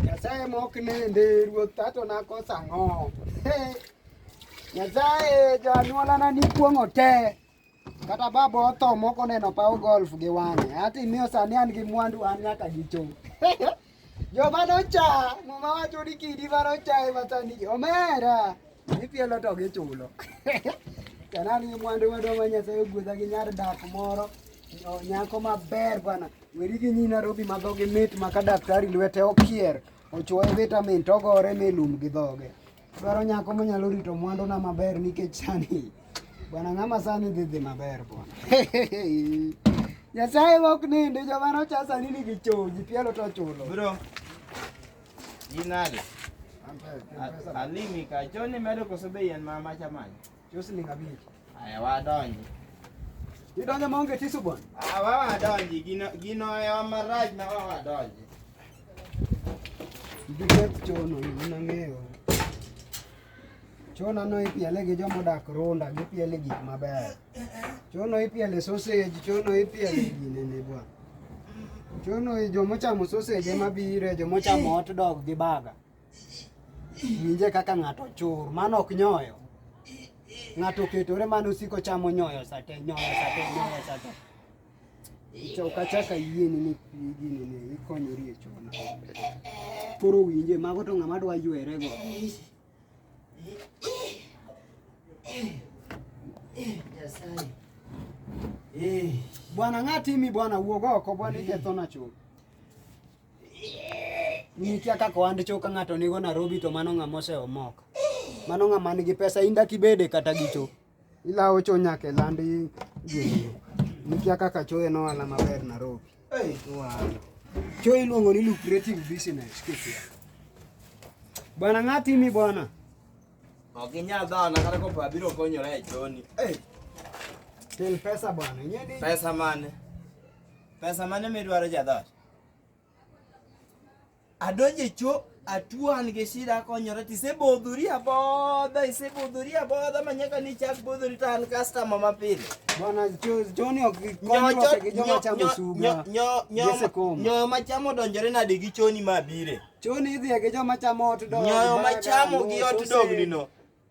Nyasaye mok nende ruoth tato nakosa ng'o. Nyasaye janyuolana nikuong'o te. Kata baba otho mok oneno paw golf gi wang'e. Ati miyo sani an gi mwandu an nyaka gicho. Joma nocha, muma wacho ni kidi ma nocha ema sani omera. Ipielo to gichulo. Kana ni mwandu madwa ma Nyasaye ogwedha gi nyar dak moro nyako maber bwana. Weri gi nyi Nairobi ma dhogi mit ma ka daktari lwete okier ochuoye vitamin to ogore mi lum gi dhoge. Dwaro nyako manyalo rito mwanduna maber nikech sani bwana ng'ama sani dhi dhi maber bwana. Nyasaye ok nindi joma nocha sani nigi choji pielo to chulo. Bro. Ginade. Alimi ka choni medo koso be yien ma macha manya. Chosling abich. Aya wadonji. Idonjo maonge tisu bwana. Ah, wa wadonji gino gino ewa maraj na wa wadonji. Giketh chono gimana ng'eyo. Chona no ipiele gi joma odak runda, gipiele gik maber. Chono ipiele sausage, chono ipiele ginene bwana. Chono i- joma ochamo sausage ema bire, joma ochamo hot dog gi burger. Winje kaka ng'ato chur, mano ok nyoyo. Ng'ato oketore mano osiko chamo nyoyo sate, nyoyo sate, nyoyo sate. Ukachaka yie ni gini ne ikonyori e chona. Koro winje, mago to ng'ama dwa ywere go. Bwana ng'atimi bwana wuog oko bwana ikethona chuth. Nikia kaka ohand cho ka ng'ato nigo Nairobi to mano ng'ama oseomoka. Mano ng'ama nigi pesa in dak ibede kata gi cho. Ilawo cho nyaka e land i- gini. Nikia kaka cho en ohala maber Nairobi. Wow. Cho iluongo ni lucrative business kikia. Bwana ng'ati mi bwana. Ok inyal dhana kata kopo abiro konyora e choni. Eh, Kel pesa bwana. Ing'e ni pesa mane? Pesa mane midwaro jadhot? adonje cho atuo an gi shida akonyora to isebodhori abodha isebodhori abodha ma nyaka ni chak bodhori to an customer mapile nyoyo machamo odonjore nade gi choni mabire nyoyo machamo gi ot dognino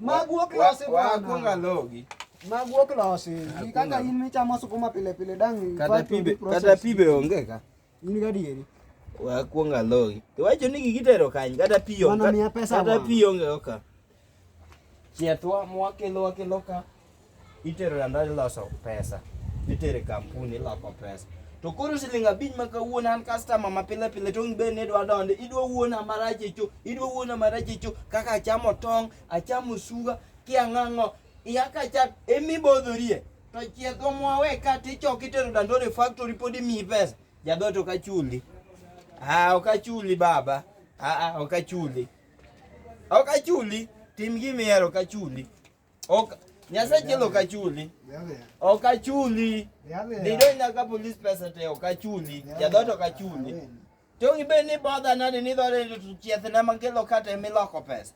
Maguok losi bwana. Wakunga logi. Maguok losi. Kaka in michamo sukuma pile pile dang. Kata pibe, kata pibe onge ka. In gadieri. Wakunga logi. Iwacho ni gigitero kany kata piyo. Kata piyo onge ka. Chiethwa mwakelo wakelo ka. Itero lando iloso pesa. Itero kampuni iloko pesa. To koro siling abich ma kawuono an customer ma pile pile to be ne dwa donde idwa wuona marach echo idwa wuona marach echo kaka achamo tong' achamo suga kiang'ang'o iya ka chat emi bodhorie to chiedho mwawe ka tichok itero dandore factory pod imiyi pesa jadhoto kachuli ah okachuli baba ah ah okachuli okachuli tim gimihero kachuli Ok, Nyasaye chiel ok achuli. Ok achuli. Dido nyaka police pesa te ok achuli. Jadot ok achuli. To gibed ni bodha nade ni dore to chieth na makelo kata emiloko pesa.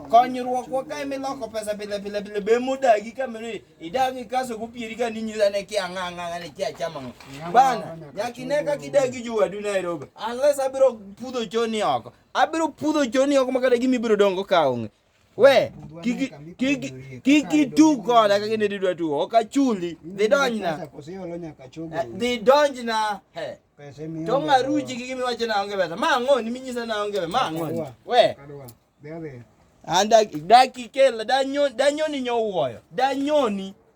Konyruok wa ka emiloko pesa pile pile pile be mudagi kamiri idagi kaso kupieri ka ninyisa ne kia ng'ang'a ne kia chama. Bana nyakine ka kidagi juwadu Nairobi. Unless abiro pudho choni oko. Abiro pudho choni oko makata gimi biro dongo ka onge. We, kik itug koda kaka ne didwa tugo, ok achuli. Dhi donjna. Eh, dhi donjna. To ng'aruchi gi gimiwacho na onge pesa. Ma ang'oni minyisa na onge pesa. Ma ang'oni. We. Anda daki kela danyoni nyowuoyo. Danyoni.